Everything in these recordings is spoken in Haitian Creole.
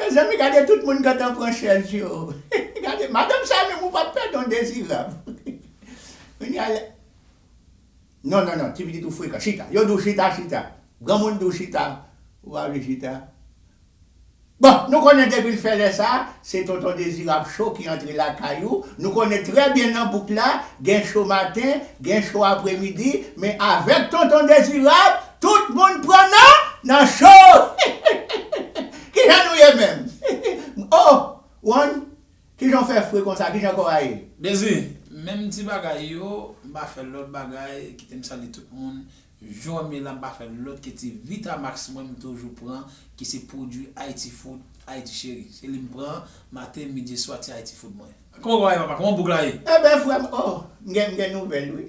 Mezanmi gade tout moun gentan pran chèz yo gade madanm sa menm ou pap pè don dezirab kounya la non non non ti pitit ou frekan chita yo diw chita chita granmoun diw chita ou pa vle chita bon nou konnen depil fè lè sa se tonton dezirab cho ki antre lakay ou nou konnen trè byen nan bouk la gen cho maten gen cho apremidi men avèk tonton dezirab Tout moun pran nan nan cho kijan nou ye menm oh one kijan w fè fre konsa kijan kò a ye. Dezi, menm ti bagay yo, m pa fè lòt bagay, kite m salye tout moun, jwè me la m pa fè lòt ke ti Vitamax mwen m toujou pran ki se pwodwi Haiti Food, Haiti Chérie. Se li m pran maten, midi e swa ti Haiti Food mwen. Kòman kò a ye papa, kòman bouk la ye? Eben frè m oh m gen nouvèl wi.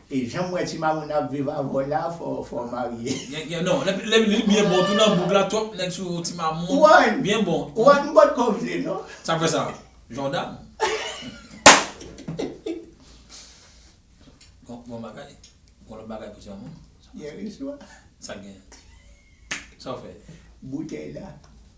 E janm wè timamoune ap viv avèw la fò fò marye. Gen non li byen bon tou nan bouk la twòp nèg sou timamoune byen bon. Juan m potko vle non. Sak fè sa jordan. Bon bagay gon lòt bagay pou timamoune. Yèriswa. Sak gen. Sa w fè. Boutèy la.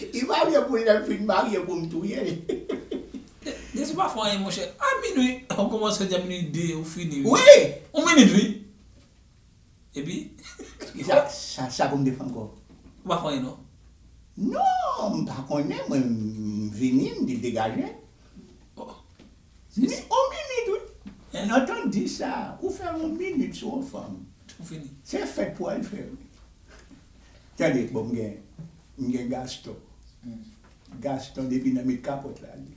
Li marye poul lèl fin marye poum touyel. Dezi pa fè anyen monchè a minwi ou komanse di a minwi 2 ou fini wi wi ou minit wi epi Kisa sa pou m te fè ankò? Ou pa fè anyen non. Non m pa konnen mwen m vini m di l degaje. Ohh. On minit wi. Hein? Antann di sa ou fè on minit sou on fanm. Ou fini. Se fèt pou al fè wi. Tande bon mgen mgen gaston gaston depi nan met kapòt la li.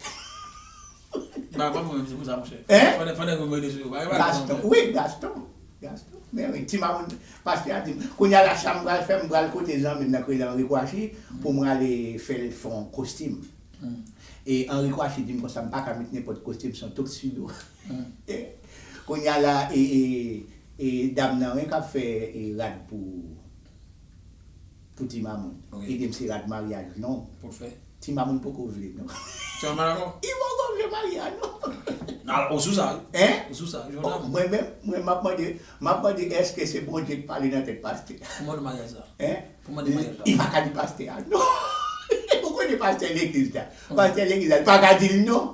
Bagay pa bon menm se pousa monchè Hein fane fane mete sou yo bagay pa bon non Gaston wi gaston gaston men wi ti mamoun pastè a dim kounya la sam pral fè mpral kote zanmim nan ki rele Henri Kouachi poum rale fèl fon kostim e Henri Kouachi dim konsa mpaka met nenpòt kostim son tuxedo. Kounya la e dam nan wi kap fè rad pou pou ti mamoun edem se rad maryaj non ti mamoun poko vle non li poko vle maryaj non ou sou sa wi mwen menm mwen map mande map mande eske se bondye ki pale nan tèt pastè li paka di pastè a non ou konnen pastè legliz la pastè legliz la li paka dil non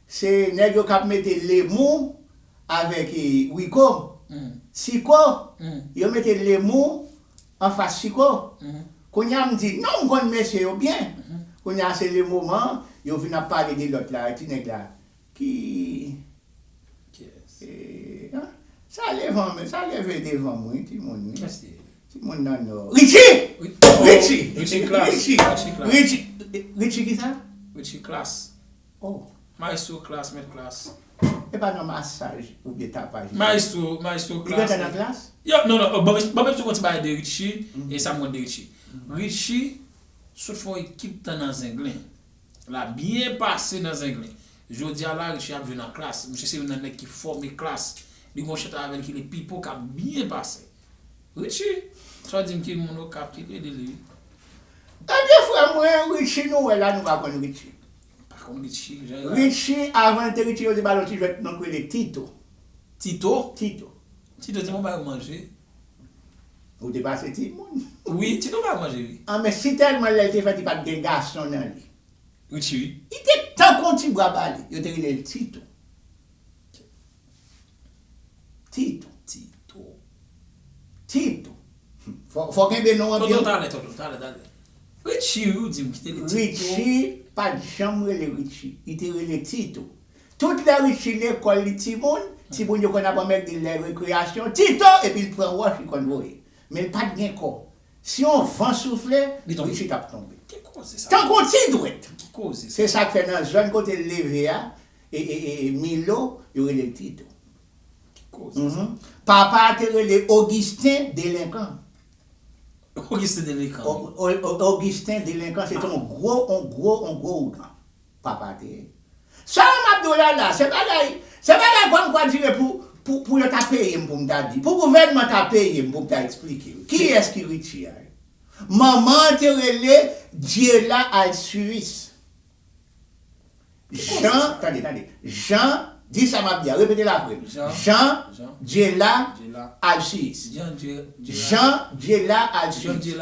Se neg yo kap mete lemou avek rico siko yo mete lemou anfas siko kounya m di non m konn mesye yo byen kounya se le moman yo vin ap pale de lot la ti neg la ki eeh sa levan men sa leve devanm wi ti moun wi ti moun nan nò Richie Richie Richie Richie Richie kisa Richie klass. Oh maestro klass met klass. Epa nan masaj oubyen tapaj li ye. Maestro maestro klass. Li gentan nan klass? Yo non non banm banm esplike yon ti bagay de Richie e sa m konn de Richie. Richie sot fè yon ekip tan nan zenglen. La byen pase nan zenglen. Jodia la Richie ap jwe nan klass. Misye se youn nan nèg ki fòme klass. Li gen yon chantè avèl ki rele Pipo kap byen pase. Richie fè dim ki moun okap ki k ede li wi. Ebyen frèm mwen Richie nou wè la nou pa konn Richie. Pa konn Richie jan l la. Richie avan l te Richie yo te ba l yon ti jwèt non k rele Tito. Tito? Tito. Tito te konn ba yo manje. Ou te pase timoun. Wi Tito ba yo manje wi. An men si tèlman lè l te fèt li pat gen gason nan li. Richie wi. Li te tankou yon ti bwa bale. Yo te rele l Tito. Tito Tito Tito Hum fò kenbe non an byen wi Tonton talè talè talè Richie wi ou di m kite li Tito Richie pa t janm rele Richie li te rele Tito Tout lè Richie lekòl li timoun timoun yo konn ap anmède l lè rekreyasyon Tito epi l pran wòch li konn voye men l pa t gen kò si yon van soufle Richie t ap tonbe Ki koze sa Tankou yon ti dwèt Ki koze sa Se sa k fè nan zòn kote l leve a E e e e Milo, yo rele l Tito. Ki koze sa? Uhmm. Papa a te rele Augustin Delinquant. Augustin Delinquant wi. O o o Augustin Delinquant se te yon gwo, yon gwo, yon gwo ougan. Papa a te ye. Sa yo m ap di w la la, se bagay, se bagay kwa m kwa dire pou, pou, pou yo ta peye m pou m ta di, pou gouvènman ta peye m pou m ta esplike yo. Kiyès ki Richie a yo? Manman an te rele Diela Alcius. Jan, tande, tande, Jan, di sa m ap di a, repete l apre m. Jan, Dyela, Alsiyis. Jan, Dyela, Alsiyis.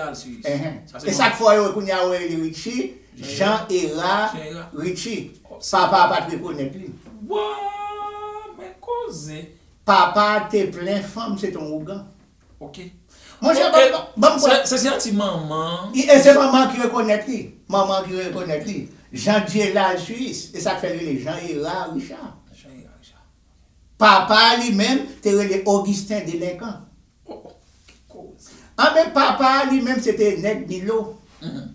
E sa k fè w wè kounye a ou rele li Ritchi? Jan Era Ritchi. Papa a pa t rekonèt li. Waww, men koze! Papa a te plen fanm se te yon ougan. Ok. Mon chè banm banm pran. Se se ti manman. I e se manman ki rekonèt li. Manman ki rekonèt li. Jean Dielal Suisse. E sak fèl rele Jean Herard Richard. Jean Herard Richard. Ok. Papa a li menm te rele Augustin Delinquant. Oh oh. Ki koze. Anben papa a li menm se te nèg Milo. Hum.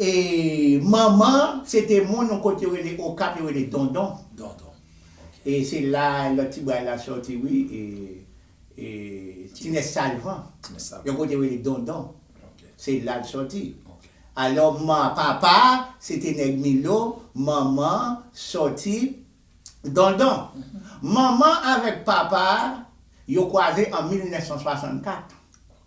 E manman an se te moun yon kote yo rele Okap yo rele Dondon. Dondon. Ok. E se la lòt ti bwa la sòti wi e. Tinès Salvan, yon kote yo rele Dondon, se la l soti. Alò, papa a, se te nèg Milo, manman an soti Dondon. Manman avèk papa a, yo kwaze an 1964.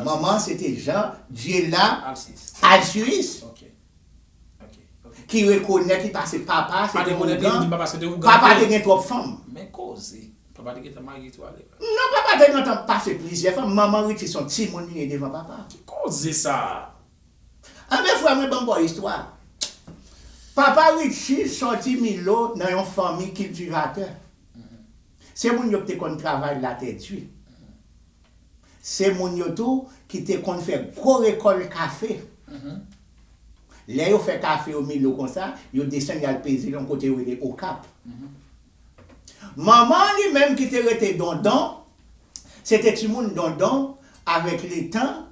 Manman se te Jean Diela Alcius ki rekonèt li pase papa se te ougan, papa te gen twòp fanm. Non papa te gentan pase plizyè fanm, manman Richie son timoun li ye devan papa. Anben frè mwen banm baw istwa. Papa Richie sòti Milo nan yon fanmi kiltivatè. Se moun yo ki te konn travay latè di. Se moun yo tou ki te konn fè gwo rekòl kafe. Lè yo fè kafe yo Milo konsa, yo desann y al peze l yon kote yo rele Okap. Manman an li menm ki te rete Dondon, se te timoun Dondon, avèk letan,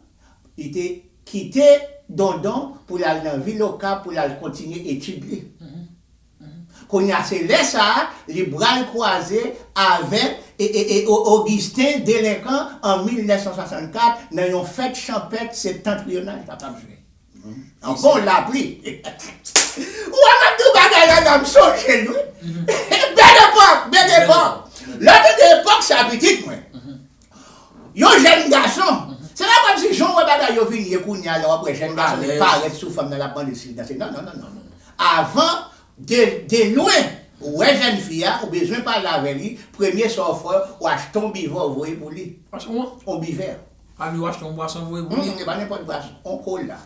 li te kite Dondon pou l al nan vil Okap pou l al kontinye etid li. Kounye a se lè sa a li bral kwaze avèk Augustin Delinquant an 1964 nan yon fèt chanpèt septantrional ta pral jwe. Yon bon lapli. Ou wè map di w bagay la la m sonje l wi. Bèl epòk, bèl epòk. Lè w tande epòk sa pitit mwen. Yon jèn gason, se pa kòmsi jan w wè bagay yo vin ye kounye a lè w ap wè jèn gason vin parèt sou fanm nan l ap mande l si li danse. Non, non, non, non, non. Avan, de, de lwen, ou wè jèn fi a, ou bezwen pale avè li, premye sa w fè, ou achte yon bivè w voye pou li. Ou achte yon? Yon bivè. A li ou achte yon bwason voye pou li? Hum, e pa nenpòt bwason, yon kola.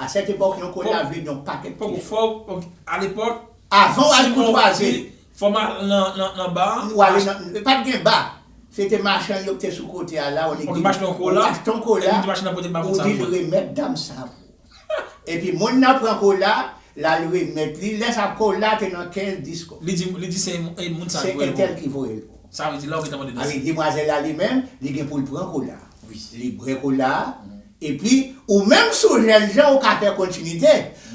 A sèt epòk, yon kola vle di yon pakèt ti swa. Fò w, ok, alepòk, si w. Avan w al koutwaze Fò m al nan ba a. Ou ale nan, e pat gen ba. Se te machann yo ki te sou kote a la, ou di m achte yon kola, ou di l remèt dam sa a pou ou. Epi moun nan pran kola a, l al remèt li, lè sa a kola a te nan kèz disk ou. Li di se moun sa a ki voye l pou ou. Se entèl ki voye l pou ou. Sa vle di la ou gen tan mande dosye. Alò, demwazèl la li menm, li gen pou l pran kola a. Li bwè kola a. Epi, ou menm si w jènjan ou ka fè kontinite.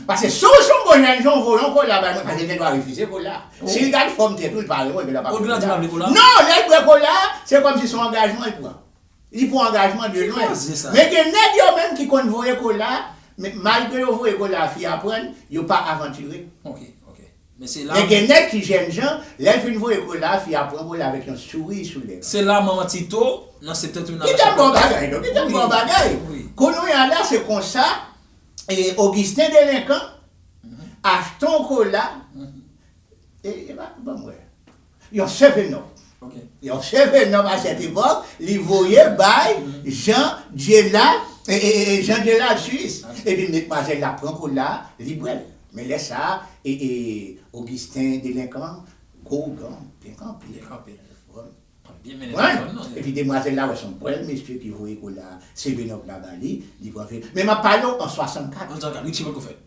Pase si w son bon jènjan ou voye yon kola bay moun pase l gen dwa refize kola a. Si l gad fòm tèt ou li pa renmen w li gen dwa pa vle kola a. Non, lè l bwè kola a, se kòmsi son angajman l pran. Li pran angajman de lwen. Men gen nèg yo menm ki konn voye kola a, men malgre yo voye kola a fi a pran l, yo pa avanture. Men gen nèg ki jènjan, lè l fin voye kole a, fi a pran kole a avèk yon souri sou lèv. Se la manman Tito, nan septentrional la Chapelle Bas. Kite m ba w bagay non, kite m ba w bagay. Kounouya la se konsa Ogisten delenkan achte yon kola, e pa ban m wè. Yon sèvè nò. Yon sèvè nòm a sèt epòk, li voye bay Jan Dyela, Jan Dyela jis, epi medmwazèl la pran kola a, li bwè l. Men lè sa a, Ogisten delenkan an, gwo ougan an, te kanpe. Te kanpe. Epi demwazèl la wè s on bèl mesye ki voye kola a, sèvè nòm la ba li, li pran vè l. Men m ap pale w an 64. An 64, wi, ti poko fèt.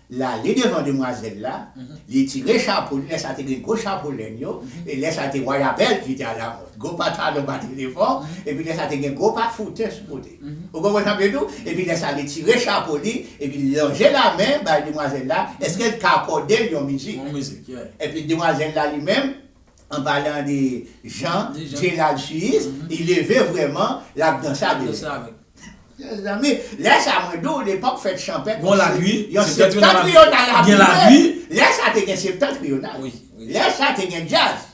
L ale devan demwazèl la, li tire chapo li, lè sa te gen gwo chapo lenn yo, e lè sa te Waya Bèl ki te alamòd, gwo patalon bati devan, epi lè sa te gen gwo pa foutè sou kote. Ou konprann sa m vle di w? Epi lè sa li tire chapo li, epi l lonje lamen bay demwazèl la, èske l ka akòde l yon mizik? Epi demwazèl la li menm, An palan de Jean Gerald Suisse li leve vrèman lap danse avèk. Mezanmi lè sa mwen di w lepòk fèt chanpèt gon lagri yon septentrional ap jwe lè sa te gen septentrional lè sa te gen djaz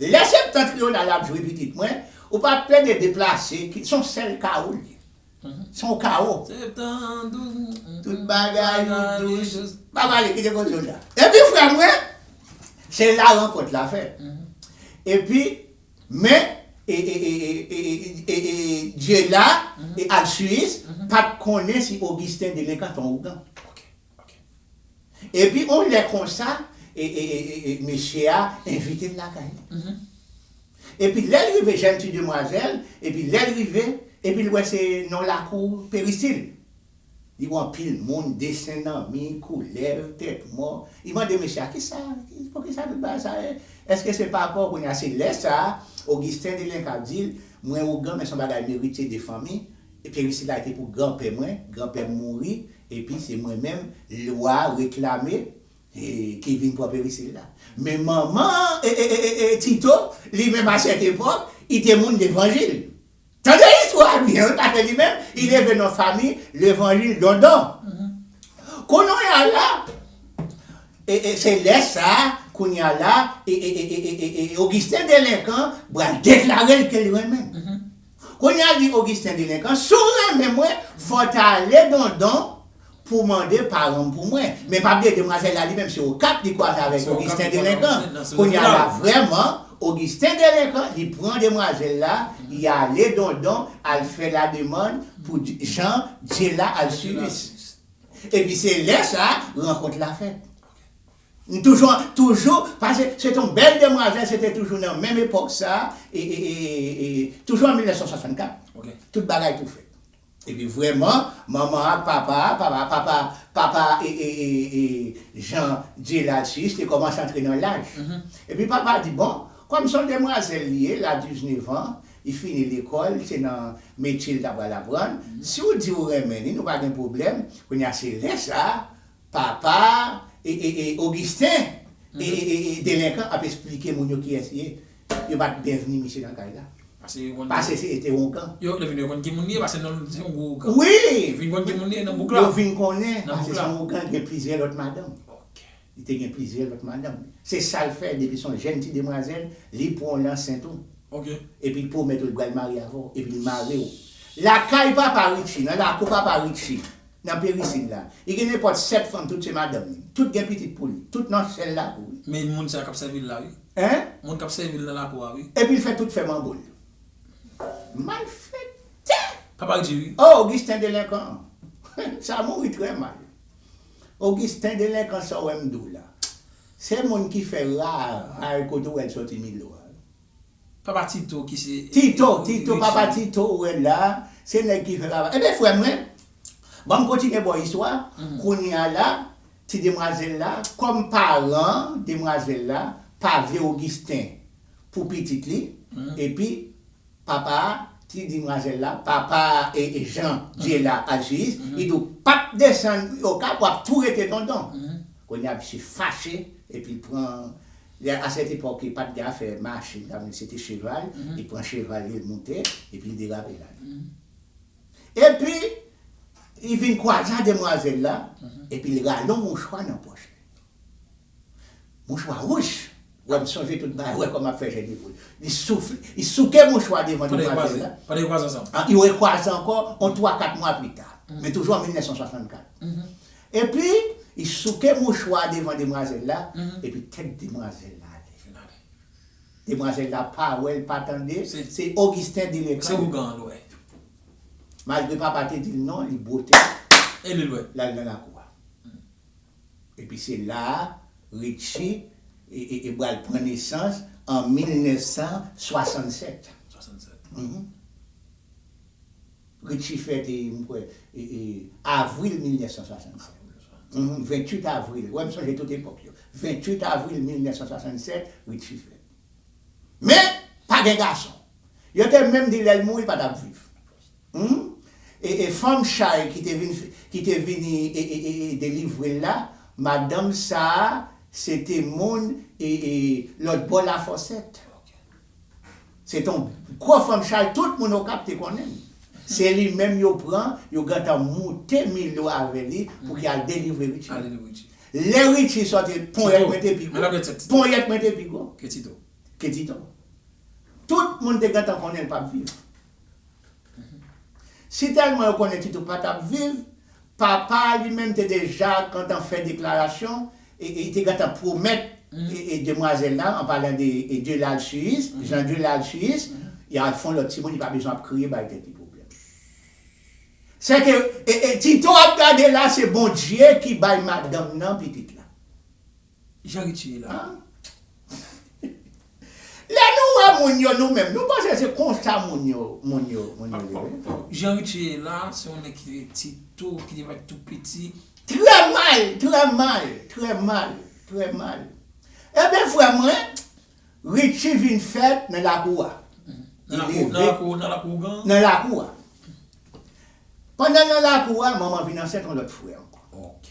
lè septentrional ap jwe pitit mwen ou pa plede deplase son sèl kawo l ye. Son kawo. Septan douz m. Tout bagay yo dous. Pa pale kite koze yo di a. Epi frè mwen, se la rankont la fèt. Epi men Dyela e Alsiyis pat konnen si Ogisten delenkan tan ougan. Ok. Epi on lè konsa mesye a envite l lakay li. Epi lè l rive jèn ti demwazèl, epi lè l rive, epi l wè se non lakou perisil. Li wè anpil moun, desen nan mi, koulèv, tèt mò. Li mande mesye a, kisa, poukisa tout bagay sa e? Eske se pa paw kounye a? Se lè sa a, Ogisten Delin k ap di l, mwen ougan men son bagay m eritye de fanmi, perisil la te pou granpè mwen, granpè m mouri, Epi se mwen menm lwa reklame ki vin pran perisil la. Men manman Tito li menm a sèt epòk i te moun levanjil. Tande istwa a byen wi paske li menm i leve nan fami levanjil dondon. Kounonya la se lè sa a kounya la Ogisten delenkan pral deklare l ke l renmen l. Kounye a di Augustin delenkan si w renmen mwen fò w ta ale dondon pou w mande paran m pou mwen men pa bliye demwazèl la li menm se okap li kwaze avèk Augustin delenkan kounye a la vrèman Augustin delenkan li pran demwazèl la li ale dondon al fè la demann pou Jean Dyela Alcius epi se lè sa rankontr la fèt. M toujou an toujou pase se te yon bèl demwazèl se te toujou nan menm epòk sa e toujou an 1964 tout bagay tou fèt epi vrèman manman ak papa papa papa papa Jean Dieulard Suisse te kòmanse antre nan laj epi papa di bon kòm se yon demwazèl li ye l a diznevan li fini lekòl se nan metye l ta pral aprann si w di w renmen li nou pa gen pwoblèm kounye a se lè sa Papa Augustin delenkan ap esplike moun yo kiyès li ye. Yo pa t byenvni misye nan kay la. Pase se te ongan. Yo vin yo konn ki moun li ye pase non l se yon gwo ougan. Wi! Yo vin konn ki moun li ye nan bouk la. Yo vin konnen pase se yon ougan ki gen plizyè lòt madanm. Ok. Li te gen plizyè lòt madanm. Se sa l fè depi se yon jenn ti demwazèl li pran w nan sent ou. Ok. Epi l pwomèt ou l pral marye avè w epi l mare w. Lakay papa Richie, nan lakou papa Richie. Nan perisil la. Li gen nenpòt 7 fanm tout se madanm li. Tout gen pitit pou li. Tout nan sèl lakou wi. Men moun sa kap sèvil la wi. Hein? Moun kap sèvil nan lakou a wi. Epil fè tout fè manbo l. Malfèktè! Papa k di wi. Oh Augustin delenkan an. Sa mouri trè mal. Augustin delenkan sa w wè m di w la. Se moun ki fè raraj kote w wè l sòti Milo a. Papa tito ki se. Tito, tito papa tito ou wè la, se nèg ki fè papa. Ebyen frè mwen, banm kontinye baw istwa, kounya la, ti demwazèl la, kòm paran demwazèl la pa vle Augustin pou pitit li, epi papa ti dimwazèl la, papa Jean Diela Alcius, li di w pap desann okap wap tou rete tonton. Kounya misye fache epi l pran Lè a sèt epòk li pat gen afè machin sa men se te cheval, li pran cheval li l moute epi li derape l ale. Epi li vin kwaze a demwazèl la epi l rale yon mouchwa nan pòch li. Mouchwa wouch, wè m sonje tout bagay, wè kòman m ap fè jèn evreu. Li soufle, li souke mouchwa devan demwazèl la. Pandan yo kwaze ansanm. Yo rekwaze ankò yon twa kat mwa pli ta. Men toujou an 1964. Epi, li souke mouchwa a devan demwazèl la, epi tèt demwazèl la ale. Demwazèl la pa wè, l pa tande, se Ogisten delenkan yo ye. Malgre papa te di l non, li bwote, l al nan lakou a. Epi se la a, Ritchi e pral pran nesans an 1967. Richie fèt e m kwè e avril 1967. 28 avril, ou wè m sonje tout epòk yo. 28 avril 1967 Richie fèt. Men, pa gen gason. Yo te menm di lè l mouri l pa t ap viv. Humm e fanm chay ki te vin ki te vini e delivre l la, madanm sa a se te moun e lòt bò Lafòsèt. Se te yon gwo fanm chay tout moun Okap te konnen li. Se li menm yo pran, yo gentan moute Milo avè li pou ki al delivre Richie. Lè Richie sòti, ponyèt mwen te pi gwo. Ponyèt mwen te pi gwo ke Tito. Tout moun te gentan konnen li pap viv. Si tèlman yo konnen Tito pa t ap viv, papa a li menm te deja gentan fè deklarasyon e li te gentan pwomèt demwazèl la, an palan de Dieu l'alsiyis, Jean Dieu l'alsiyis, y al fon lòt timoun li pa bezwen ap kriye bay tèt li pwoblèm. Sèke Tito ap gade la se Bondye ki bay madanm nan pitit la. Jean Richie la. Lè nou wè moun yo nou menm nou panse se konsa moun yo moun yo moun yo ye wi. Jean Richie la se yon nèg ki te ti tou ki te parèt tou piti. Trè mal trè mal trè mal trè mal Enben frè mwen Richie vin fèt nan lakou a Nan lakou nan lakou ougan Nan lakou a Pandan l nan lakou a manman vin ansent yon lòt frè ankò Ok.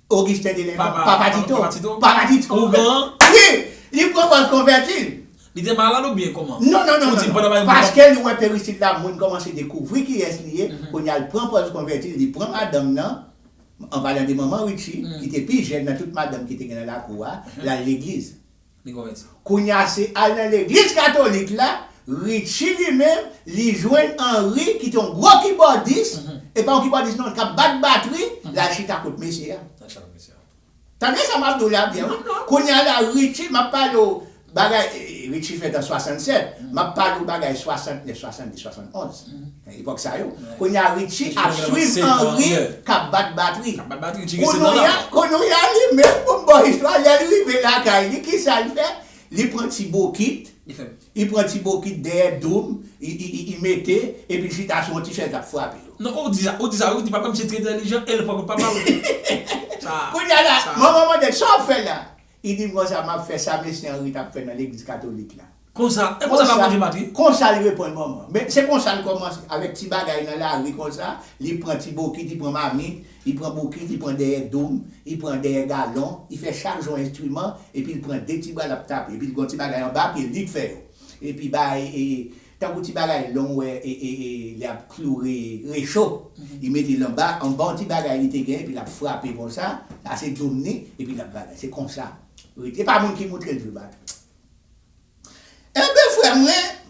Augustin de Lèman, Papa Tito, Papa Tito, Ougan, wi, li pran pòz konvèti. Li te malad oubyen kòman? Non, non, non, non, non, paske li wè Peristil la moun kòmanse dekouvri kiyès li ye, kounye a li pran pòz konvèti, li pran madanm nan, an palan de Manman Ritchi, ki te pi jèn nan tout madanm ki te gen nan lakou a, l al legliz. Kounya se al nan legliz katolik la Richie li menm li jwenn Henry ki te yon gwo kibòdis e pa yon kibòdis non k ap bat batri l al chita kot mesye a tande sa m ap di w la byen wi kounya la Richie m ap pale w bagay Richie fèt an 67 m ap pale w bagay 69 70 71. Epòk sa yo. Kounye a Richie ap swiv Henri k ap bat batri. Kounye a li menm pou m ba w istwa a, lè l rive lakay li ki sa l fè? Li pran ti bokit, li pran ti bokit dèyè doum, li mete epi l chita sou yon ti chèz l ap frape yo. Non ou di sa, ou di sa wi, di papa misye trè entèlijan e l pran kout papa l wi. Kounye a la manman mande l sa w ap fè la? I di m konsa, M ap fè sa Mesye Anri t ap fè nan legliz katolik la. Konsa, e konsa pa Bondye mati? Konsa li reponn manman. Men, se konsa l kòmanse, avèk ti bagay nan lari konsa, li pran ti bokit, li pran mamit, li pran bokit, li pran dèyè doum, li pran dèyè galon, li fè chak jou yon enstriman, epi l pran de ti bra l ap tape, epi l gen yon ti bagay anba pye l, li k fè yo. Epi bay, Tankou ti bagay long wè ee li ap kloure recho li mete l anba anba yon ti bagay li te gen epi l ap frape konsa sa se doum ni epi l ap bagay se konsa wi e pa moun ki moutre l vre enben frè mwen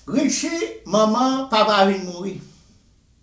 Richie manman papa vin mouri.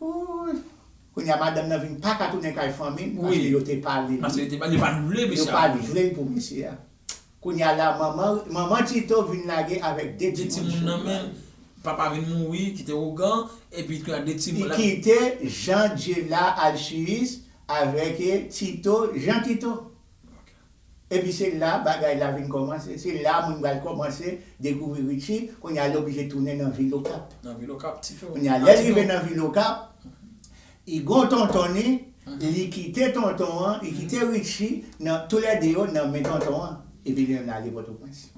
Oouyy Kounya madanm nan vin paka tounen kay fanmil paske yo te palel Paske yo te pale yo pat vle misye Yo pat vlel pou misye a Kounya la manman manman Tito vin lage avèk 2 timoun sou bra nan menl Papa vin mouri kite ougan epi kounya 2 timoun Li kite Jean Dyela Alsiyis avèk Tito Jean Tito Epi se la bagay la vin kòmanse, se la moun pral kòmanse dekouvri Richie, kounye a l oblije tounen nan vil Okap. Nan vil Okap, ti tou. Kounye a lè l rive nan vil Okap, li gon tonton li, li kite tonton an, li kite Richie nan, tou lè 2 yo nan men tonton an, epi li menm ale Pòtoprens.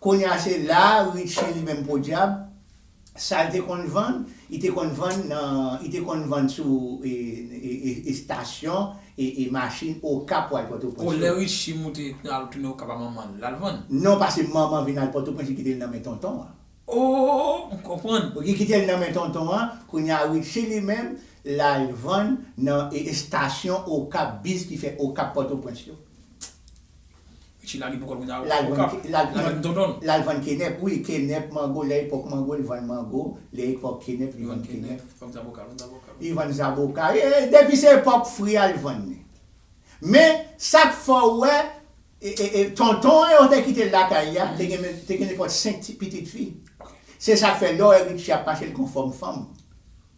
Kounye a se la Richie li menm podyab. Sa l te konn vann, li te konn vann nan, li te konn vann sou estasyon machin Okap pou al Pòtoprens yo. Bon, lè Richi moute, al tounen Okap a manman l, l al vann? Non, pase manman vin al Pòtoprens, li kite l nan men tonton an. Oo! M konprann. Li kite l nan men tonton an, kounye a Richi li menm, l al vann nan estasyon Okap, bis ki fè Okap Pòtoprens yo. Miche lage pou kòl kounya wi okap li vann dondon. Lal vann kenèp wi kenèp mango lè epòk mango li vann mango lè epòk kenèp li vann kenèp li vann zaboka depi se epòk fri al vann li men sak fè w wè tonton an yo te kitel lakay la te gen nenpòt 5 ti pitit fi se sak fè lè w wè Richie ap mache l konn fòm fanm.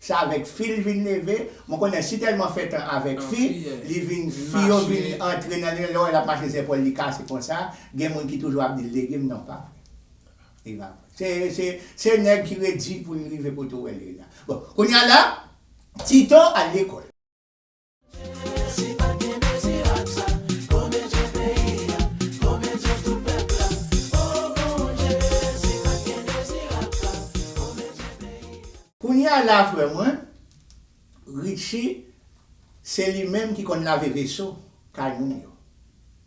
Se avèk fi l vin leve. Mwen konnen si tèlman fè tan avèk fi, li vin, fi yo vin antre nan li, lè w wè l ap mache zèpòl li kase konsa, gen moun ki toujou ap di l lege m, non pa vre. Li pa vre. Se, se, se nèg ki redi pou l rive kote w wè l ye la. Bon, kounye a la, Tito al lekòl. Kounya la frè mwen Richie se li menm ki konn lave veso kay moun yo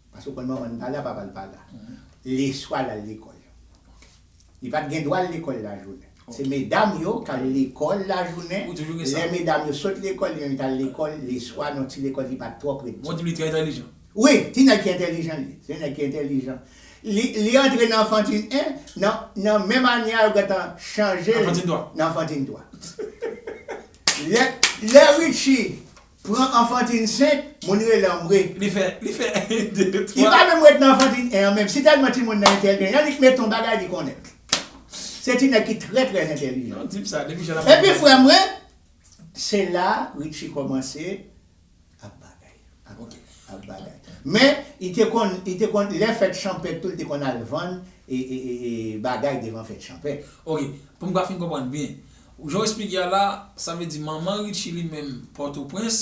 paske ou konn manman l pa la papa l pa la leswa l al lekòl Li pat gen dwa al lekòl lajounen. Se medam yo k al lekòl lajounen, lè medam yo sot lekòl li menm li t al lekòl leswa nan yon ti lekòl ki pat twò pre di. Wi, ti nèg ki entèlijan li ye. Se yon nèg ki entèlijan. Li li antre nan anfantin 1, nan nan menm ane a yo gentan chanje l nan anfantin 3. Lè lè Ritchie Pran anfantin 5, moun rele an mwe. Li fè, li fè 1, 2, 3. Li pa menm ret nan anfantin 1 an menm. Si tèlman timoun nan entèlijan, li met on bagay li konnen. Se ti nèg ki trè trè entèlijan. Yon tip sa, depi jan l'ap pale. Epi frè mwen, se la Richie kòmanse ap bagay. Ok. Ap bagay. Men, li te konn, li te konn, lè fèt chanpèt tou li te konn al vann e, e, e, e bagay devan fèt chanpèt. Ok. Pou m' ka fin konprann byen. Jan w esplike a la, sa vle di manman Ritchie li menm Pòtoprens,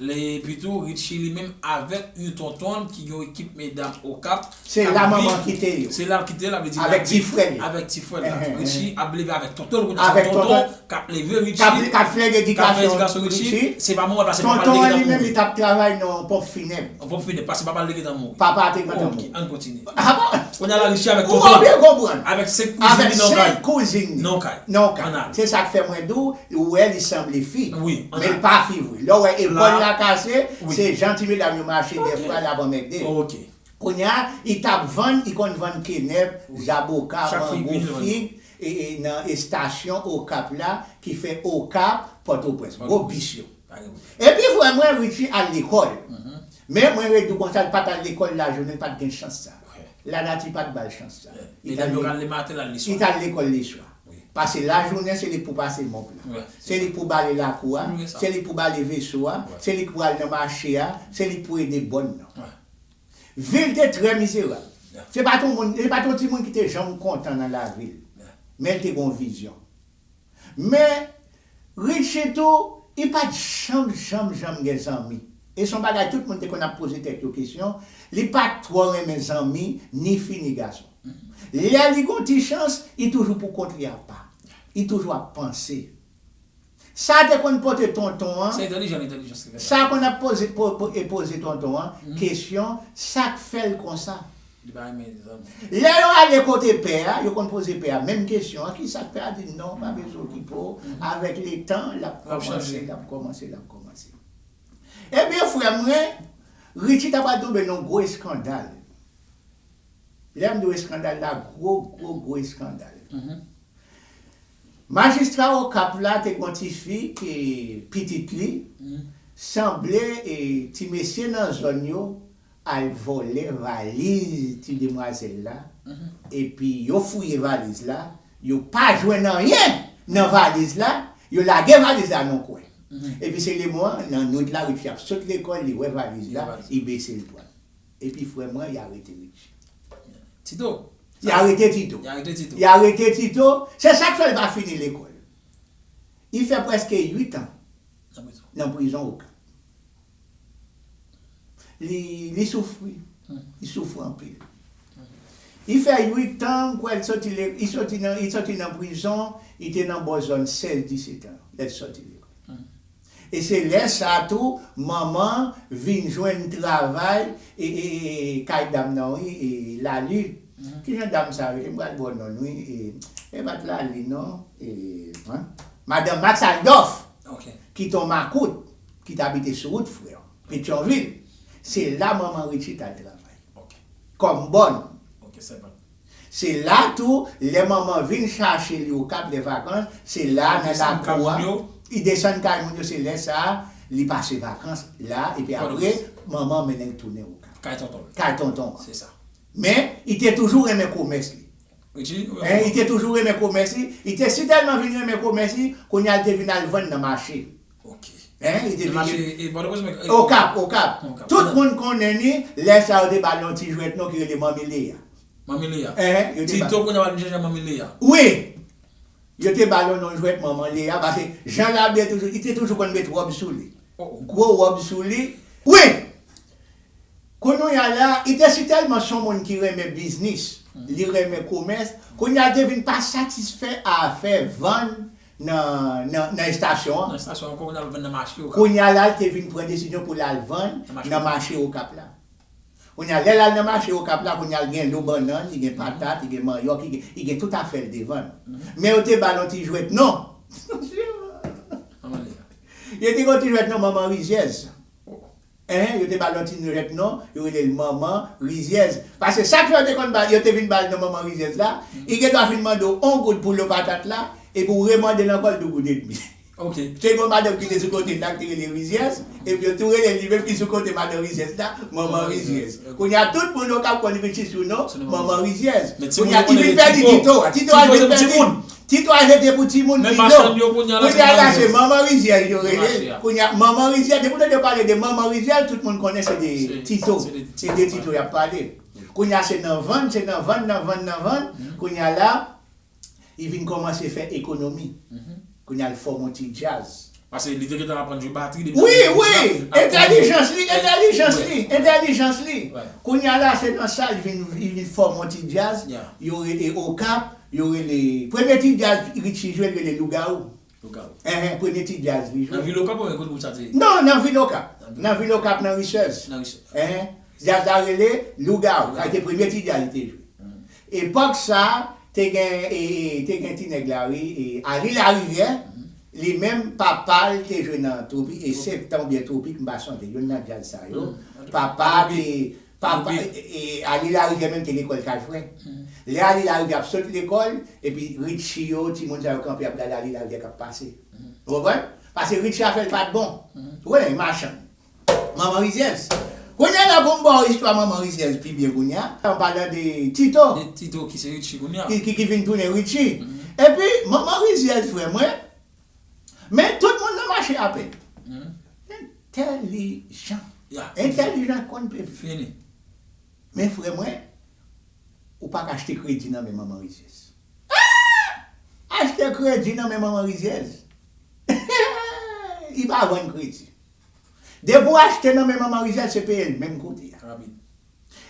lè epi tou Ritchie li menm avèk yon tonton l ki gen yon ekip medam Okap Se la manman kite yo. Se la l kite yo, la vle di l Avèk ti frè l yo. avèk ti frè l la. Ritchie ap leve avèk tonton l kounye a, se tonton l k ap leve Ritchie, k ap fè edikasyon Ritchie, se pa manman l paske manman l te gentan mouri. Tonton an li menm li t ap travay nan ponp finèb. An fòm fidèl paske papa l te gentan mouri. Papa a te gentan mouri. Ok, ann kontinye. Ah bon? Kounye a la Richi avèk tonton l. Ou pa byen konprann. Avèk 5 kouzin li nan yon kay. Avèk 5 kouzin li. Nan yon kay. Nan yon kay. Ann ale. Se sa k fè mwen di w, ou wè li sanble fi. Wi, ann ale. Men l pa fi vre. Lè w wè epòl l la kase, se jan ti medam yo mache dèfwa l ap anmède l. Ok. Kounye a, li t ap vann, li konn vann kenèp, zaboka, mango, fig nan estasyon Okap la ki fè Okap, Pòtoprens. Gwo bis yo. Epi frè mwen Richie al lekòl. Men mwen redou konsa li pat al lekòl lajounen li pat gen chans sa. Lanati pat bal chans sa. Li tal lekòl leswa. Pase lajounen se li k pou pase mòp la. Se li k pou bale lakou a. Se li k pou bale veso a. Se li k pou al nan mache a. Se li k pou ede bòn nan. Vi l te trè mizerab. Se pat yon moun, li pat yon timoun ki te janm kontan nan lavi l. Men li te gen yon vizyon. Men Richie tou i pat janm janm janm gen zanmi e son bagay tout moun te konn ap poze tèt yo kesyon li pat twò renmen zanmi ni fi ni gason lè li gon ti chans i toujou pou kont li apa i toujou ap panse sa te konn pote tonton an sa konn ap poze poze tonton an kesyon sak fèl konsa. Li pa renmen li zanmi. Lè yo ale kote pè a, yo konn poze pè a menm kesyon an, ki sa k pè a di non, pa bezwen okipe w, avèk letan l ap kòmanse, l ap kòmanse, l ap kòmanse. Ebyen frè mwen, Richie ta pral tonbe nan yon gwo eskandal. Lè m di w eskandal la, gwo, gwo, gwo eskandal. Majistra Okap la te gen yon ti fi ke pitit li sanble ti mesye nan zòn yo al vòlè valiz ti demwazèl la epi yo fouye valiz la yo pa jwenn anyen nan valiz la yo lage valiz la nan yon kwen epi se lemon an nan nwit la Ritchi ap sot lekòl li wè valiz la li bese li pranl epi frè mwen y arete Ritchi Tito y arete Tito y arete Tito se sak fè l pa fini lekòl li fè prèske 8 an nan prizon okap. Li soufri. Li soufri anpil. Li fè 8 tan m kwè li soti lekòl. Li soti nan, li soti nan prizon. Li te nan bò zòn 16, 17 tan lè li soti lekòl. E se lè sa a tou manman l vin jwenn travay kay dam nan wi, Laali. Ki jan dam sa a rele? M pral ba w non l wi. E pa t Laali non. Madan Maks Aldòf. Ki te yon makout. ki t abite sou wout frè, Petyonvil. Se la manman Ritchie t al travay. Kòm bòn. Se la tou, lè manman vin chache li Okap lè vakans, se la nan lakou a, li desann kay moun yo, se lè sa a li pase vakans la epi apre manman an mennen l tounen Okap. Kay tonton l. Kay tonton an. Se sa. Men, li te toujou renmen komès li. Ritchie? Wi, manman. Li te toujou renmen komès li. Li te sitèlman vin renmen komès li, kounye a li te vin al vann nan mache. Ok. Hein, li te vini. Li te mache. Okap, Okap. Tout moun konnen ni, lè sa yo te ba li yon ti jwèt non ki rele Manmi Leya. Manmi Leya. Hein. Tito kounye a wap vin chèche Manmi Leya. Wi! Yo te ba li yon non jwèt Manman Leya pase jan l abiye toujou, li te toujou konn met wòb sou li. Gwo wòb sou li. Wi! Kounouya la, li te si tèlman son moun ki renmen biznis, li renmen komès, kounye a li te vin pa satisfè a afè vann nan estasyon an. Kounye a la l te vin pran desizyon pou l al vann nan mache Okap la. Kounye a lè l al nan mache Okap la, kounye a l gen lo bannann, li gen patat, li gen manyòk, li gen tout afè l te vann. Men yo te ba l yon ti jwèt non. Yo te gen yon ti jwèt non manman rizyèz. Hein yo te bal yon ti nurèt non yo relel manman rizyèz pase chak fwa yo te konn bal yo te vin bal non manman rizyèz la li gendwa fin mandew on goud pou lo patat la epi ou re mandel ankò l dou goud edmi ok te gon madanm ki te sou kotel la ki te rele rizyèz epi yo tou relel li menm ki sou kote madan rizyèz la manman rizyèz kounya tout moun okap konn li vin sisou non manman rizyèz kounya li vin pèdi tito a tito a vin pèdi. Ti twa jete pou ti moun pi do. Kounye a la se manman rizyèz yo rele l. Kounye a manman rizyèz depi w tande yo pale de manman rizyèz tout moun konnen se de ti to. Se de ti to y ap pale. Kounye a se nan vann se nan vann nan vann nan vann. Kounye a la li vin kòmanse fè ekonomi. Kounye a l fòme yon ti djaz. Pase li te gentan aprann jwe batri depi nan Wi, wi! Entèlijans li, entèlijans li, entèlijans li. Kounye a la se nan sa li vin li vin fòme yon ti djaz yo re e Okap, yo rele, premye ti djaz Ritchi jwe li rele Lougawou. Lougawou. Enhen, premye ti djaz li jwe. Nan vil Okap oubyen kote gwoup sa te? Non, nan vil Okap. Nan vil Okap nan Risèz. Nan Risèz. Enhen. Djaz la rele Lougawou. Sa te premye ti djaz li te jwe. Epòk sa te gen te gen ti nèg la wi Aly Larivière li menm papa l te jwe nan tropik e septan oubyen tropik m pa sonje youn nan djaz sa yo papa te papa e Aly Larivière menm te lekòl kajfrè lè Aly Larivière ap sot lekòl epi Richie yo timoun sa yo kanpe ap gade Aly Larivière k ap pase ou konprann pase Richie afè l pa t bon ou konnen machann Manman rizyèz. Kounya la poum baw istwa manman rizyèz pi byen kounya, an palan de Tito. De Tito ki se Ritchi kounya. Ki vin tounen Ritchi. Epi manman rizyèz frè mwen, men tout moun nan mache ape l. Entèlijan. Ya. Entèlijan konn peple. Fini. Men frè mwen, ou paka achte kredi nan men manman rizyèz. Aah! Achte kredi nan men manman rizyèz? Eehh! Li pa vann kredi. Depi w achte nan men manman Rizèl se peye l menm kote a.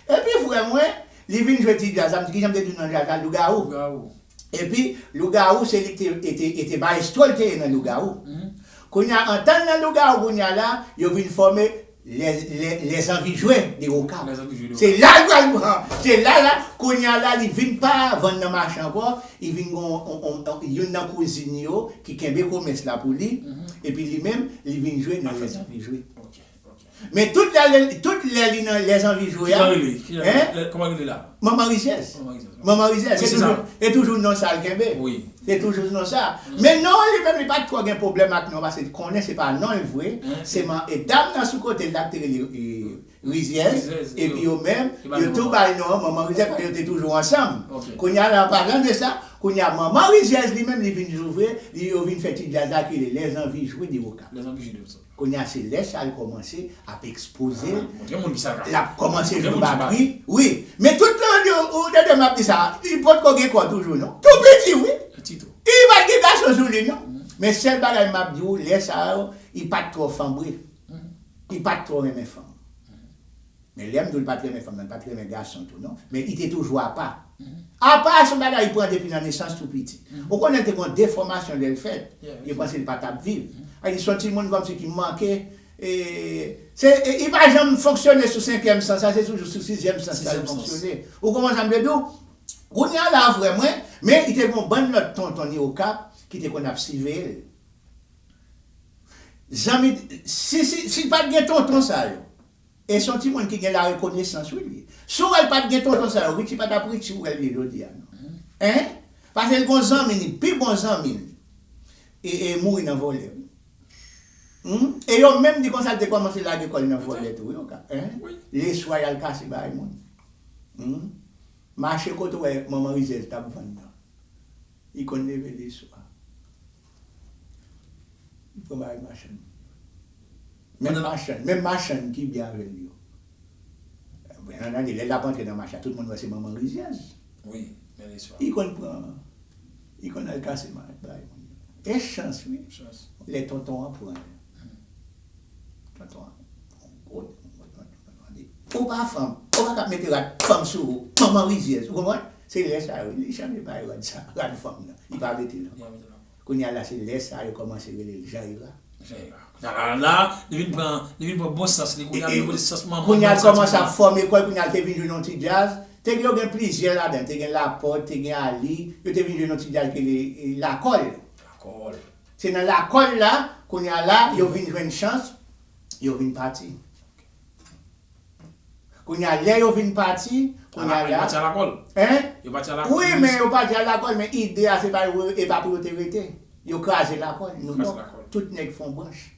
Epi frè mwen, li vin jwe ti djaz la, m di kijan m te di non djaz la, Lougawou. Epi Lougawou se li ki te maestro l te ye nan Lougawou. Kounye a antan l nan Lougawou kounye a la, yo vin fòme Les Envies Jouées de Okap. Se la l pral pran, se la la, kounye a la li vin pa vann nan mache ankò, I vin gen youn nan kouzin yo ki kenbe komès la pou li, epi li menm, li vin jwe nan lèzanvijwe. Men tout lè, tout lè li nan lèzanvijwe a. Ki jan rele li? Ki jan rele li? Kòman rele la? Manman Rizyèz. Manman Rizyèz. Manman Rizyèz. Wi, se sa. Se toujou non sa l kenbe. Wi. Se toujou non sa. Men non an li menm, li pa t twò gen pwoblèm ak non an, paske l konnen se pa non l vre. Se man, e dam nan sou kote l la ki te rele. Rizyèz, epi yo menm, yo tou bay non an Manman Rizyèz paske yo te toujou ansanm. Kounye a, an palan de sa, kounye a Manman Rizyèz li menm li vin louvre, li yo vin fè ti djaz la ki rele Lèzanvi jwe de Okap. Kounye a se lè sa l kòmanse ap ekspoze l, l ap kòmanse jwe batri, wi. Men tout tan an, ou tande m ap di sa a, li potko gen kò toujou non. Tou piti wi. Li pa t gen gason sou li non. Men sèl bagay m ap di ou, lè sa yo, li pa t twò fanbre. Li pat twò renmen fanm. Men lèm diw li pat renmen fanm nan li pat renmen gason tou non. Men li te toujou apa. Apa a se yon bagay li pran depi nan nesans tou piti. Ou konnen li te gon defòmasyon lèl fèt. Yo panse li pa tap viv. Sa di son timoun kòmsi ki manke e se li pa janm fonksyone sou senkyèm sans la se toujou sou sizyèm sans la li fonksyone. Ou konprann sam vle diw? Kounye a la vrè mwen men li te gon bann lòt tonton ni okap ki te konn ap siveyel. Zanmi si si si pat gen tonton sa yo e son timoun ki gen larekonesans wi li ye si w wè l pat gen tonton sa yo Richie pa tap Richie w wè l ye jodi a non hein pase l gon zanmi li pi bon zanmi l e e mouri nan vòlè wi humm e yo menm di konsa l te kòmanse lage kò l nan vòlè tou wi ok hein leswa y al kase bagay moun humm mache kote w wè manman rizèz tap vann nan li konn leve leswa. Li pran bagay machann. Menm machann, menm machann ki byen avè l yo. Byen antandi, lè l ap antre nan mache a, tout moun wè se manman rizyèz. Wi, men li swa. Li konn pran, li konn al kase bagay moun yo. E chans wi. Chans. Lè tonton an pran l. Tonton an, yon gwo tonton, tonton an di, Ou pa fanm, ou pa ka ap mete rad fanm sou ou, manman rizyèz. Ou konprann? Se lè sa yo li chanje bay rad sa rad fanm nan li pa metel ankò kounya la se lè sa yo kòmanse relel jan ira. Jan ira kounya la li vin pran li vin pran bon sans li kounya li vin pote sans manman kounya li kòmanse ap fòme kòl kounya li te vin jwenn yon ti djaz te gen yo gen plizyè ladan te gen lapòt te gen ali yo te vin jwenn yon ti djaz ki rele lakòl lakòl se nan lakòl la kounya la yo vin jwenn chans yo vin pati. Kounya lè yo vin pati, kounya la. Yo pati alakòl. Hein? Yo pati alakòl. Wi men yo pati alakòl men ide a se pa yo e pa pou yo te rete. Yo kraze lakòl. Yo kraze lakòl. Tout nèg fon branch.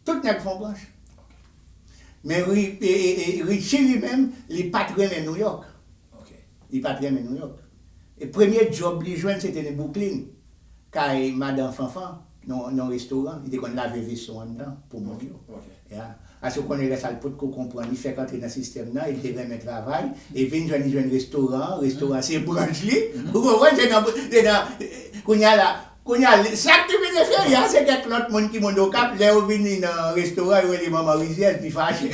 Tout nèg fon branch. Men Richie li menm li pat renmen Nouyòk. Ok. Li pat renmen Nouyòk. Premye djòb li jwenn se te nan Bouklin kay madan Fanfan. yon restoran, li te konn lave veso anndan pou moun yo. Ya. Paske ou konnen lè sa l potko konprann, li fèk antre nan sistèm nan e li te renmen travay e vin jwenn li jwenn restoran an, restoran an se branch li, ou konprann, se nan, se nan, kounye a la, kounye a sa k te vin efere a se kèk lòt moun ki moun Okap, lè yo vini nan restoran yo rele manman rizyèz li fache.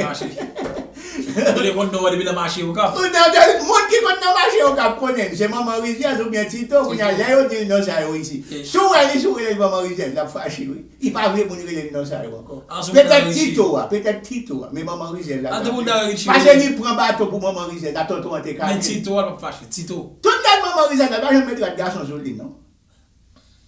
Ou te konn non an depi nan mache okap. Moun ki konn nan mache okap konnen l se manman rizyèz oubyen tito kounye a lè yo di l non sa yo isi si w wè li si w rele l manman rizyèz l ap fache wi li pa vle moun rele l non sa yo ankò petèt tito a petèt tito a men manman rizyèz la ta vle pase li pran baton pou manman rizyèz la tonton an te kale l men tito a l pap fache tito tout gad manman rizyèz la l pa janm met rad gason sou li non.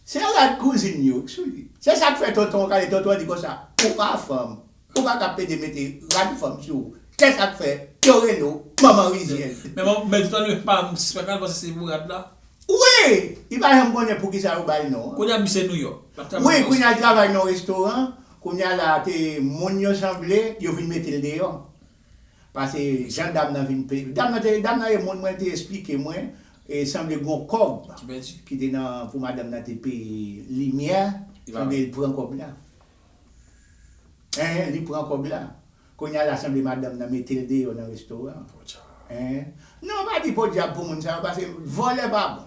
Se rad kouzin yo k sou li. Se sak fè tonton an ka di tonton an di konsa, ou pa fanm, ou pa ka pede mete rad fanm sou ou. Kè sak fè Doreno manman rizyèz. Men manman men tonton an li menm pa m sispèk nan li panse se pou rad la. Wi! Li pa janm konnen poukisa yo ba l non an. Kounye a misye Nouyòk. L ap travay nan yon restoran. Wi, kounye a l travay nan yon restoran. Kounye a la te moun yo sanble, yo vin mete l deyò. Pase jan dam nan vin peye. Dam nan te, dam nan e moun mwen li te esplike mwen e sanble gon kòb ki te nan pou madanm nan te peye limyè sanble li pran kòb la. Enh li pran kòb la. Kounya la sanble madanm nan mete l deyò nan restoran an. Enh non pa di podyab pou moun sa yo pase vòlè pa bon.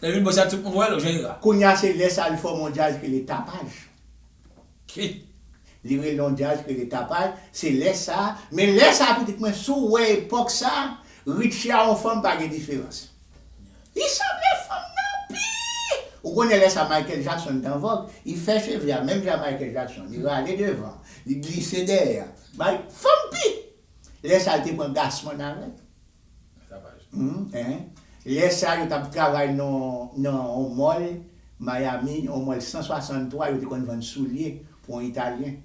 Lè vin bo sa tout moun wèl ou jan ira. Kounya se lè sa li fòme yon jazz ke le tapaj. K. Li rele yon jazz ke le tapaj, se lè sa, men lè sa pitit mwen si w wè epòk sa, Richie a yon fanm pa gen diferans. Li sanble fanm nan anpil! Ou konnen lè sa Michael Jackson t an vòg, li fè cheve a menm jan Michael Jackson, li rale devan, li glise dèyè. Mike, fanm pi! Lè sa li te pran Gassman avè l. Lè sa yo t ap travay nan yon mòl Miami, yon mòl 163, yo te konn vann soulye pou yon Italyen.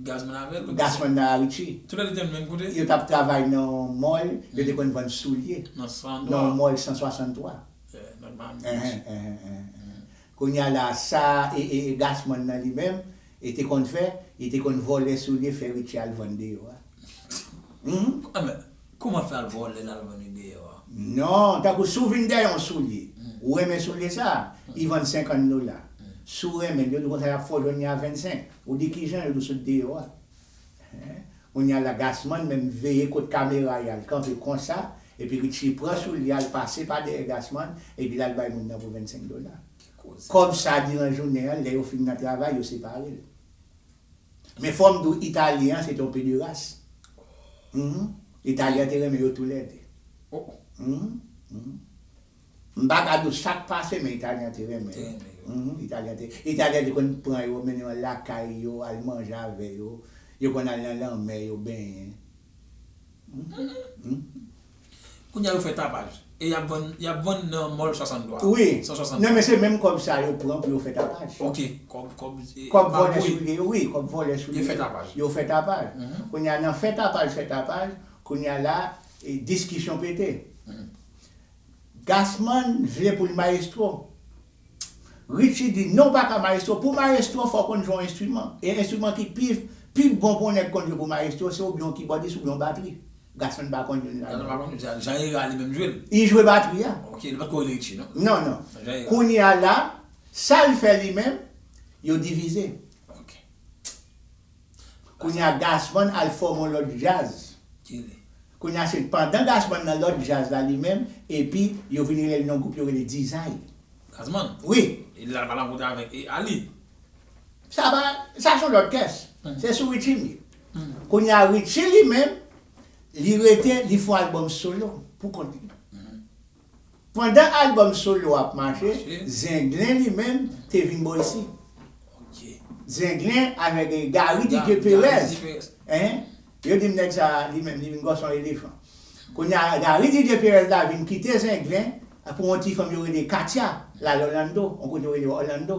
Gassman avè l? Gassman nan Haiti. Tou lè de te nan menm kote? Yo t ap travay nan yon mòl, yo te konn vann soulye. Nan 163? Nan yon mòl 163. Nan Miami Beach. Kounya la sa e e e gasman nan li menm e te konn fè e te konn vòlè soulye fè richi al vann deyò a humm. A men kouman fè al vòlè lal vann li deyò a. Non tankou si w vin dèyè yon soulye ou renmen soulye sa li vann 50 dola si w renmen l yo di w konsa y ap fè w jwenn li a 25 ou di kijan yo di w sot deyò a. Hee kounya la Gasman menm veye kot kamera yal kanpe konsa epi Richie pran soulye al pase pa dèyè Gasman epi lal bay moun nan pou 25 dola kòb sa diran jounen an lè yo fin nan travay yo separel men fòm diw italyen an se te yon pederas humm italyen an te renmen yo tou lè 2 humm humm. M pa gad yo chak pase men italyen an te renmen yo. Italyen te italyen an te konn pran yo mennen yo lakay yo al manje avè yo, yo konn al nan lanmè yo benyen. Kounya yo fè tapaj e yap vann yap vann nan mòl 63 a. Wi, nan men se menm kòb sa yo pran pou yo fè tapaj. Ok, kòb kòb e kòb vòlè soulye yo wi, kòb vòlè soulye yo fè tapaj. Yo fè tapaj. Kounya nan fè tapaj fè tapaj, kounya la diskisyon pete. Gassman vle pou l mayestwo. Richie di non w pa ka mayestwo. Pou w mayestwo fò w konn jwe yon enstriman. E enstriman ki pi pi bon pou yon nèg konn jwe pou mayestwo se oubyen yon kibòdis oubyen yon batri. Gassman pa konn youn ladan yo. Gassman pa konn. Jean Hera li menm jwe l? Li jwe batri a. Ok, li pa t ko rele Richie non? Non, non. Jean Hera. Kounye a la, sa l fè li menm, yo divize. Ok. Kounya Gazzman al fòme yon lòt djaz Kounya se pandan Gazzman nan lòt djaz la li menm epi yo vin rele l yon gwoup yo rele Dizay Gazzman? Wi E li al palavota avèk e Ali? Sa pa Sa son lòt kès Se sou Ritchie m ye Kounya Ritchie li menm li rete li fon albòm solo pou kont li Pandan album solo a ap mache, Zenglen li menm te vin bò isit. Zenglen avèk Gary Didier Perez, yo di m nèg sa li menm li vin gwòs an elefan. Kounye a Gary Didier Perez la vin kite Zenglen pou yon ti fanm yo rele Katia l al Orlando, yon kote yo rele Orlando.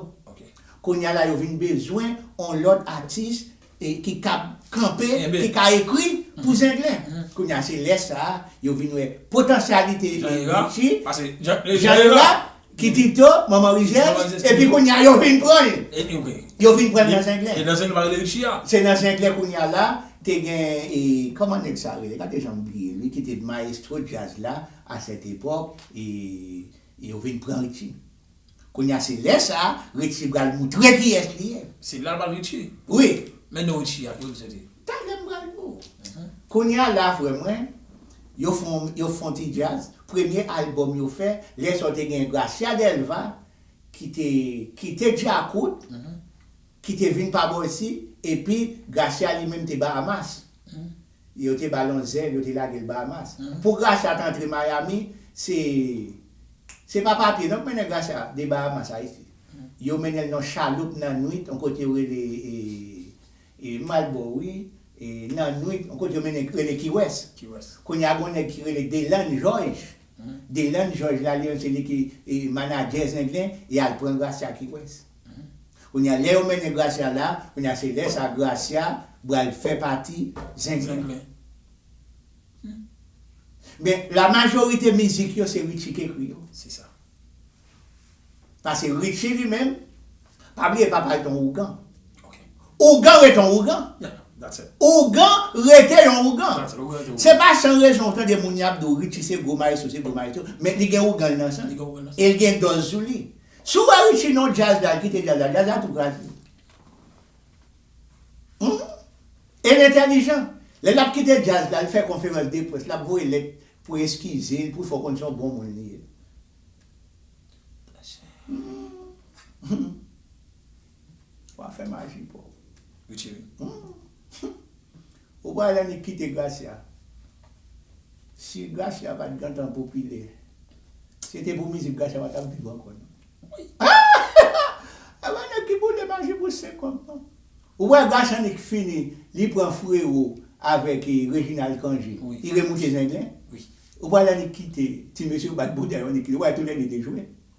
Kounye a la yo vin bezwen yon lòt atis ki kab kanpe, ki ka ekri pou Zenglen. Kounye a, se lè sa a yo vin wè potansyalite Richie, Jean Lira, Kitito, Manman Rizèz, epi kounye a yo vin pran l. Yo vin pran l nan Zenglen. E nan Zenglen pa rele Richie a? Se nan Zenglen kounye a la, te gen, kòman nèg sa a rele, gade jan m bliye li, ki te mayestwo djaz la a sèt epòk, e yo vin pran Richie. Kounye a se lè sa Richie pral moutre kiyès li ye. Se la l pral Richie? Wi. Men non Richie a, ki kote li soti? Talè m pral di w. Kounye a la frè mwen, yo fon yo fon ti djaz, premye albòm yo fè, lè sa w te gen Gracia Delva ki te kite Djakout, ki te vin pa bò isi, epi Gracia li menm te Bahamas. Yo te ba l yon zèl, yo te lage l Bahamas. Pou Gracia t antre Miami, se se pa papye non k mennen Gracia de Bahamas Ayiti. Yo mennen l nan yon chaloup nan nwit, yon kote yo rele e Malbori, nan nwit, yon kote yo mennen l rele Key West. Kounye a gen yon nèg ki rele Deland Jòj. Deland Jòj la li menm se li ki manadjè Zenglen, y al pran Gracia Key West. Kounya lè yo mennen Gracia la kounya se lè sa Gracia bral fè pati zen zenglen humm men la majorite mizik yo se Richie k ekri yo se sa pase Richie li menm pa bliye papal t on ougan ougan ret on ougan ougan rete yon ougan se pa san rezon ou tande moun yap di w Richie se gwo maestro se gwo maestro men li gen ougan l nan san l e l gen dòz sou li. Siw wè Richie non jazz la kite jazz la, jazz la tou kraze humm el entèlijan lè lap kite jazz la li fè konferans de près lap voye lèt pou eskizel pou l fè w konn se yon bon moun li ye humm wa fè maji paw humm. Humm ou pral annik kite Gracia si Gracia pat gentan popilè se te pou mizik Gracia pa tap viv ankò nan wouyy aahh e pa nèg ki boule maji pou senkòb non ou wè Gracia annik fini li pran Frero avèk Reginald Cangé li remoute zenglen ou pral annik kite ti mesye yo bat bouda yo annik kite ou wè tou lè 2 te jwe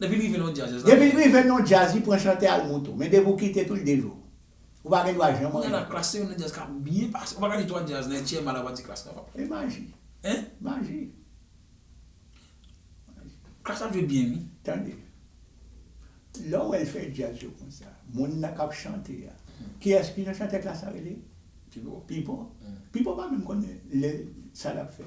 Depi l rive nan yon djaz jazz la Depi l rive nan yon djaz li pran chante al moun tou men depi w kite tou l dejwe w ou pa gen dwa janm anyen Kounya la klass se youn nan djaz kap byen pase ou pa ka di 3 djaz nan HCMA la pa di klass nan pap E maji Hein Maji Klass ap jwe byen wi Tande lè w wè l fè djaz yo konsa moun nan kap chante a kiyès ki jan chantè klass la rele Pipo Pipo Pipo pa menm konnen le sa lap fè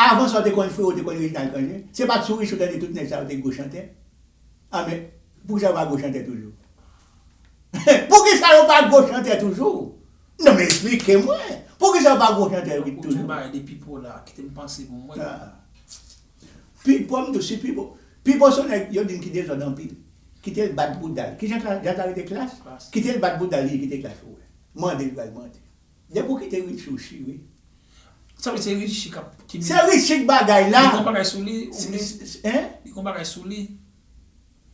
Avan sa w te konn freo te konn Reginald Cangé? Se pat sou Richou tande tout nèg sa yo te gwo chantè? An men poukisa yo pa gwo chantè toujou? Poukisa yo pa gwo chantè toujou? Non men esplike mwen! Poukisa yo pa gwo chantè toujou? Tankou tou bagay de Pipo la, kite m panse pou mwen. Pipo m di w si Pipo, Pipo se yon nèg yo di m ki dezòd anpil. Kite l bat bouda l. Ki jan Jean Clare te klass? Kite l bat bouda l li kite klass pou w wè. Mande l li pral mande. Depi ou kite Richie ou chi wi. Sa vle di se Richie kap ki minis. Se Richie k bagay la. Li gon bagay sou li ou vle. Hein? Li gon bagay sou li.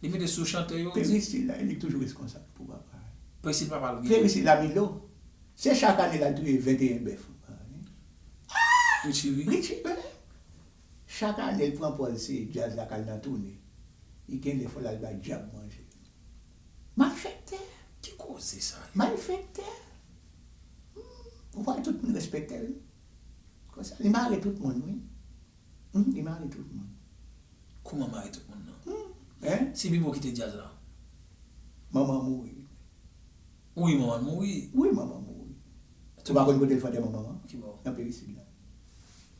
Li mete sou chantè yo. Peristil la li toujou reskonsab pou papa. Peristil papa l gen. Peristil la Milo. Se chak ane la touye 21 bèf. Ahh! Richie ri. Richie menm. Chak ane l pran pòz se djaz la kal nan toune. Li gen lè fòl al bay djab manje. Malfektè? Ki koze sa yo? Malfektè? Humm, ou pa wè tout moun respekte l? Konsa li mare tout moun wi. Humm, li mare tout moun. Kouman mare tout moun nan? Humm, en? Se Bibo ki te djaz la? Manman mouri. Wi manman l mouri. Wi manman mouri. Ou pa konn kote l fè antèman manman? Ki bò? Nan peyi sid la.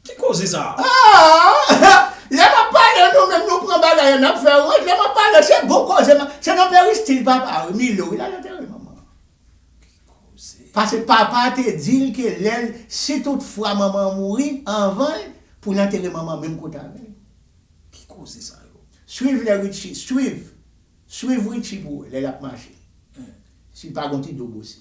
Ki koze sa a? Aah! Lè map pale nou menm nou pran bagay yo nap fè wont lè map pale se bon koze map se nan peristil papa wi Milo wi lal antere manman an. Ki koze? Pase papa te dil ke lèl si tout fwa manman an mouri anvanl poul antere manman an menm kote avèl. Ki koze sa yo? Swiv lè Richie swiv swiv Richie pou wè lè lap mache si l pa gon ti dobosi.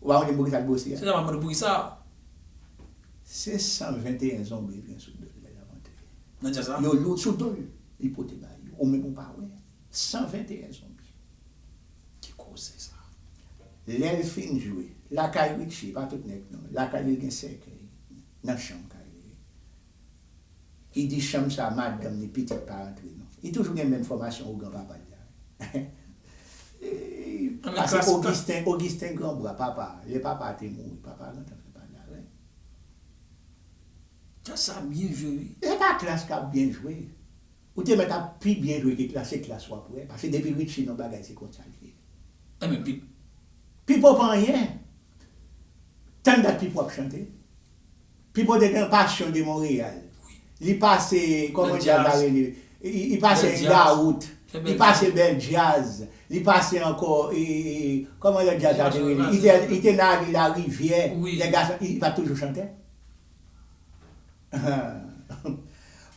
Ou pa mande pou kisa l gwosi a? Se sa m ap mande pou kisa a? 521 zonbi l gen sou do l lè l ap antre. Nan djaz la? Yo loud sou do l li pote ba yo. Ou menm ou pa wè. 121 zonbi. Ki koze sa? Lè l fin jwe. Lakay Richie, pa tout nèg non. Lakay li l gen sèkèy. Nan chanm kay li. Li di chanm sa madanm li pitit pa antre non. Li toujou gen menm fòmasyon ougan papa l la wi. Sa se Ogisten, Ogisten Granbra, papa, lè papa a te mouri, papa a gentan fè pagarè. Klas sa ap byen jwe wi. Se pa klas kap byen jwe. Ou te mèt ap pi byen jwe ke klas, se klas wap wè. Pase depi Richie non bagay se konsa l ye. Enben Pip. Pipo pa anyen. Tann dat Pipo ap chante. Pipo te gen passion de Montréal li pase koman jazz la rele li pase engarout li pase bel jazz li pase anko koman lot jazz la te rele li te nan ale la rivyè les garçons li pat toujou chantè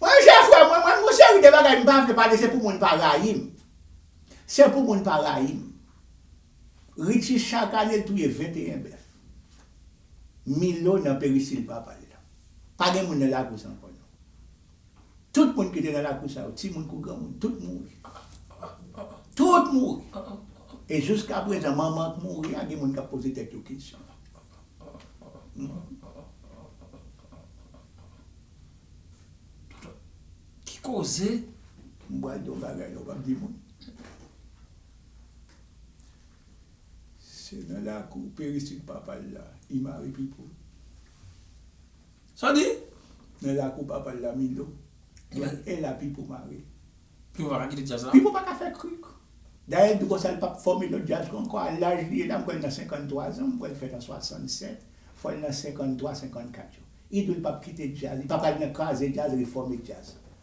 mwen chè frè mwen mwen gon seri de bagay m pa vle pale se pou moun pa rayim se pou moun pa rayim. Richie chak ane l touye 21 bèf. Milo nan perisil papa l lan. Pa gen moun nan lakous ankò non. Tout moun ki te nan lakou sa yo, timoun kou granmoun, tout mouri. Tout mouri. E jouskaprezan manman k mouri a gen moun k ap poze tèt yo kesyon. Ki koze? M pral di yon bagay la ou p ap di moun. Se nan lakou peristil papa l la I mare Pipo. Sa w di? Nan lakou papa l la Milo. Donk e la Pipo mare. Pipo pa ka kite djaz la? Pipo pa ka fè krik. Dayè l di konsa l pap fòme lòt djaz ankò a laj li ye la m kwè l nan 53 zan, m kwè l fèt an 67, fò l nan 53, 54 yo. Ido l pap kite djaz, li pa pral nan kraze djaz, refòme djaz.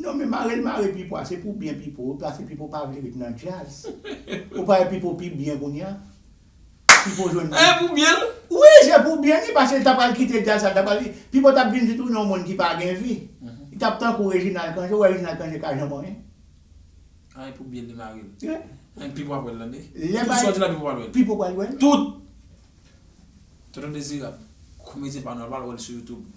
Non men marel mare pipo a se pou byen pipo wi pase pipo pa vle ret nan djazz ou pa wè pipo pi byen kounya pipo jwenn byen. Eeh pou byen l. Wi se pou byen li pase l ta pral kite djazz sa l ta pral pipo tap vin tounen yon moun ki pa gen vi li tap tankou reginal cangé ou wè reginal cangé ka janm anyen. Ah e pou byen li mare l. Anh pipo ap wè l tande tout sa w di la pipo pral wè l. Pipo pral wè l. Tout Tonton dezirab komedyen pa nou al pral wè l sou youtube.